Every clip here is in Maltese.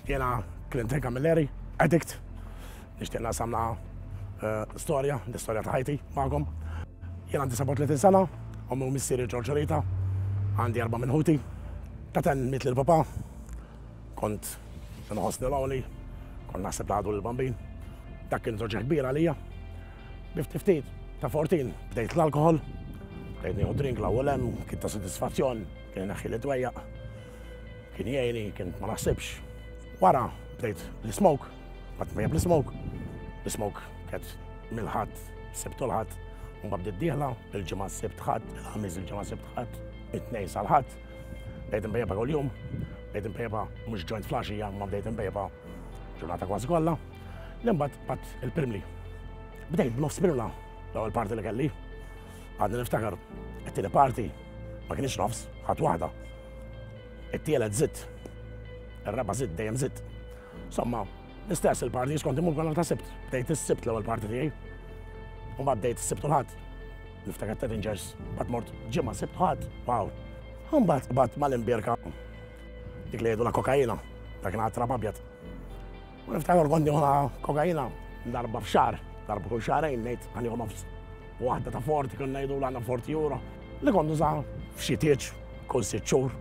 Jena Clinton Camilleri, addict, nishtiq nasamna eh, storja, l-istorja ta' ħajti magħkom. Jena 39 sena, ommi u missieri ġorġorita, għandi erba' minn ħuti, taten mitli l-papa, kont nħossni l-għoli, kont naħseb laħdu l-bambin, dak kien zoġa kbira lija. Biftiftit, ta' fortin, bdejt l-alkohol, bdejt nieħu drink l-ewwel hemm, kien ta' sodisfazzjon, kien naħħi li dwejjaq. Kien jgħini, kien ma naħsibx. Wara bdejt l-ismoke, bat mejjeb l-ismoke. L-ismoke kienet mill-ħadd, sibtu l-ħadd, mbagħad bdiet dieħla, il-ġimgħa sibt ħadd, il-ħamis il-ġimgħa sibt ħadd, it-tnejn sal-ħadd. Bdejt imbejjebha kuljum, bdejt imbejjebha mhux ġojnt flaxija, ma bdejt imbejjebha ġurnata kważi kollha. L-imbagħad qatt il-pirmli. Bdejt b'nofs pirmla l-ewwel parti li kelli. Għadni niftakar, it-tieni parti ma kienx nofs, ħadd waħda. It-tielet zitt, ir-raba' zitt dejjem zitt. Somma, l-istess il-parti skont imur kollha ta' sibt. Bdejt is-sibt l-ewwel parti tiegħi. U ma bdejt is-sibt u l-ħadd. Niftakar ta' Avengers, bat mort ġimgħa sibt ħadd. Wow. Mbagħad bat mal-imbierka dik li jgħidu la kokaina, dak kien għatra abjad. U niftakar kont nieħu kokaina darba f'xar, darba kull xarejn ngħid għan nieħu nofs. Waħda ta' forti kien ngħidu għandna forti jura li kont nuża f'xi tieġ kull sitt xhur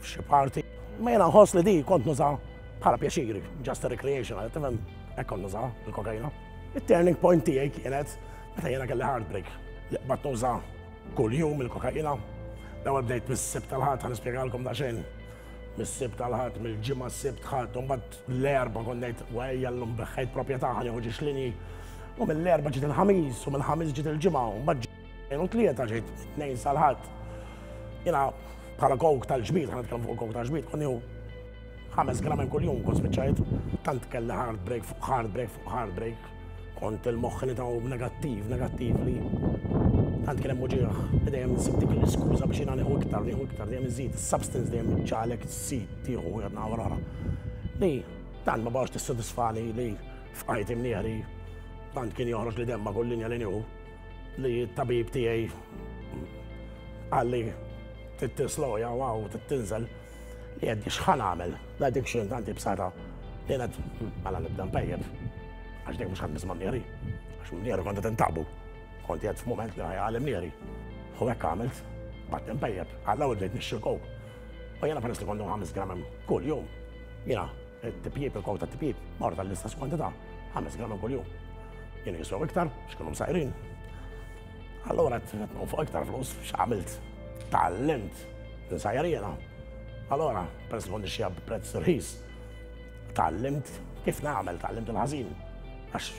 f'xi parti. Ma jiena nħoss li di kont nuża bħala pjaċiri, just a recreation, għal tifhem hekk kont nuża l-kokaina. It-turning point tiegħi kienet meta jiena kelli heartbreak li qbad nuża kull jum il-kokaina. L-ewwel bdejt mis-sib tal-ħadd ħan nispjegalkom daqsxejn. Mis-sib tal-ħadd, mill-ġimgħa s-sib ħadd, u mbagħad Mill-Erbgħa kont ngħid, ejja llum beħħejt propjetà ħa nieħu ġixlini. U mill-Erbgħa ġiet il-Ħamis u mill-Ħamis ġiet il-Ġimgħa u mbagħad ġejn u tlieta ġejt tnejn sal-Ħadd. Jiena bħala kowk tal-ġbid, ħana tkellem fuq kowk tal-ġbid, kont nieħu ħames gramen kuljum kont spiċċajt. Tant kelli hard break fuq hard break fuq hard break. Kont il-moħħ li dawk negattiv, negattiv li tant kien hemm uġigħ li dejjem insib dik l-iskuża biex jiena nieħu iktar, nieħu iktar, dejjem iżid, is-substance dejjem iġġagħlek żżid tieħu wieħed naħa wara l-oħra. Li tant ma baqgħetx tissodisfani li f'ħajti mniehri tant kien joħroġ li demm ma' kull linja li nieħu li t-tabib tiegħi qalli trid tisloja waw trid tinżel. Li għedni x'ħa nagħmel, l-addiction tant ibsarha li qed mela nibda npejjep. Għax dejjem mhux qed nisma' mnieri. Għax mnieri kont qed intabu. Kont qed f'mument li ħajja għal mnieri. U hekk għamilt, bad npejjep, għalla u bdejt nixxi kow. U jiena peress li kont ħames gramem kull jum. Jiena, t-tipjib, il-kow ta' tipjib, morta l-istess kwantità, ħames gramem kull jum. Jiena jiswew iktar, x'kienu msajrin. Allora qed fuq iktar flus, x'għamilt? Tallimt Insajjar jiena. Allora, peress li kont nixxiha b'prezz rħis, tgħallimt kif nagħmel, tgħallimt il-ħażin. Għax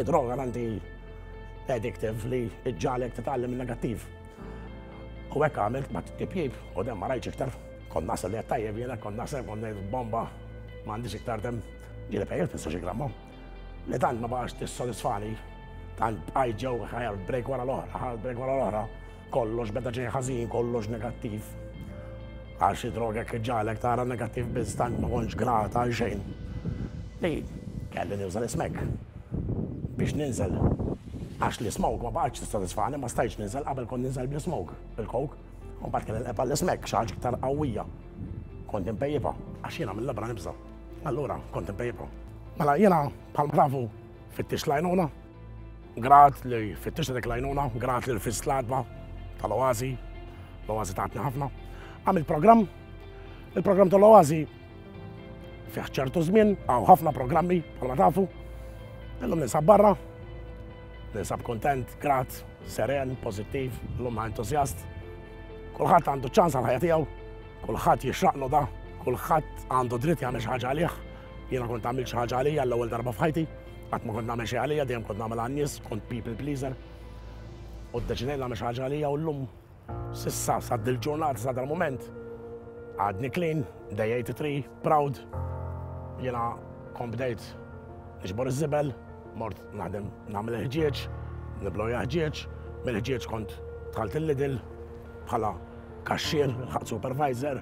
id-droga għandi addictive li ġġalek titgħallem il-negattiv. U hekk għamilt ma t-tipjib u dem ma rajċ iktar. Kon nasel li għattajjeb jena, kon nasel kon bomba ma għandix iktar dem ġili pejjel fissa xie gramma. Li tant ma baqax t-sodisfani, tant bqajt ġew ħajja break wara l-oħra, ħajja break wara l-oħra. Kollox beda ġej ħażin, kollox negattiv. Għal xi droga kif ġalek tara negattiv biss tant ma kontx grat għal xejn. Li kelli nuża l-ismek biex ninżel. Għax l-ismoke ma baqgħetx tissodisfani, ma stajtx ninżel, qabel kont ninżel bl-ismoke, bil-coke. U mbagħad kelli nqebba' l-ismek, xi ħaġa iktar qawwija. Kont inpejjipha, għax jiena mill-ibra nibża'. Allura kont inpejjipha. Mela jiena bħalma tafu Fittix l-għajnuna, grat li fittix dik l-għajnuna, grat li l-fis l-adba tal-oazi, l-oazi taħtni ħafna. Għamil program, il-program tal-oazi fiħ ċertu żmien, għaw ħafna programmi, għalma tafu, illum ninsab barra, ninsab kontent, grat, seren, pozittiv, l-lum entuzjast. Kulħadd għandu ċans għal ħajja tiegħu, kulħadd jixraqlu da, kulħadd għandu dritt jagħmel xi ħaġa għalih. Jiena kont għamilt xi ħaġa għalija l-ewwel darba f'ħajti, qatt ma kont nagħmel xejn għalija, dejjem kont nagħmel għan-nies, kont people pleaser. U ddeċidejt nagħmel xi ħaġa għalija u llum sissa sa dil-ġurnata sa dal-mument għadni clean, day 83, proud. Jiena kont bdejt nixbor iż-żibel, mort naħdem nagħmel il-ħġieġ, nibloja ħġieġ, mill-ħġieġ kont tħalt il-lidil bħala kaxxir, supervisor,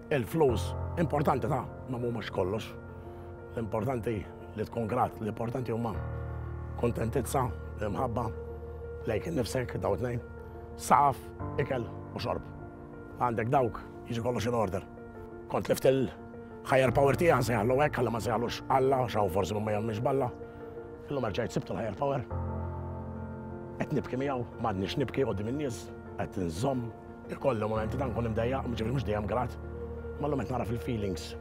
Il-flus importanti ta' ma mhumiex kollox. L-importanti li tkun grat, l-importanti huma kontentizza, imħabba, lejk innifsek daw tnejn, saqaf, ikel u xorb. Għandek dawk, jiġi kollox in order. Kont lift il-higher power tiegħi sejħallu hekk għalla ma sejħallux Alla, xaw forsi ma jemmiex balla. Illum erġajt sibtu l-higher power. Qed nibki miegħu, m'għadniex nibki qudiem in-nies, qed nżomm Ikolli momenti ta' nkun imdejjaq, ġifieri mhux dejjem grat, ma llum qed nagħraf il-feelings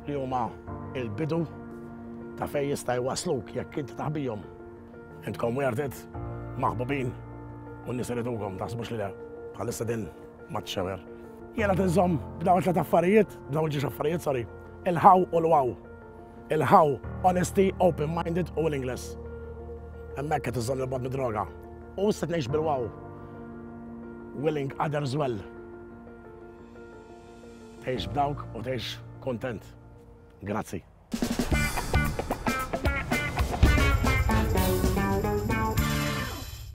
li huma l-bidu ta' fejn jista' jwassluk jekk inti taħ bihom. Intkom worth it, maħbubin, u n-nies iridukom, taħsbux li le, bħalissa din ma txewer. Jiena tinżomm b'dawn it-tliet affarijiet, b'dawn il-ġiex affarijiet, sorry, il-ħaw u l-waw. Il-ħaw, honesty, open minded u l-Ingles. Hemmhekk qed iżżomm il-bad mid-droga. U issa tnejx bil-wow. Willing others well. Tgħix b'dawk u tgħix kontent. Grazzi.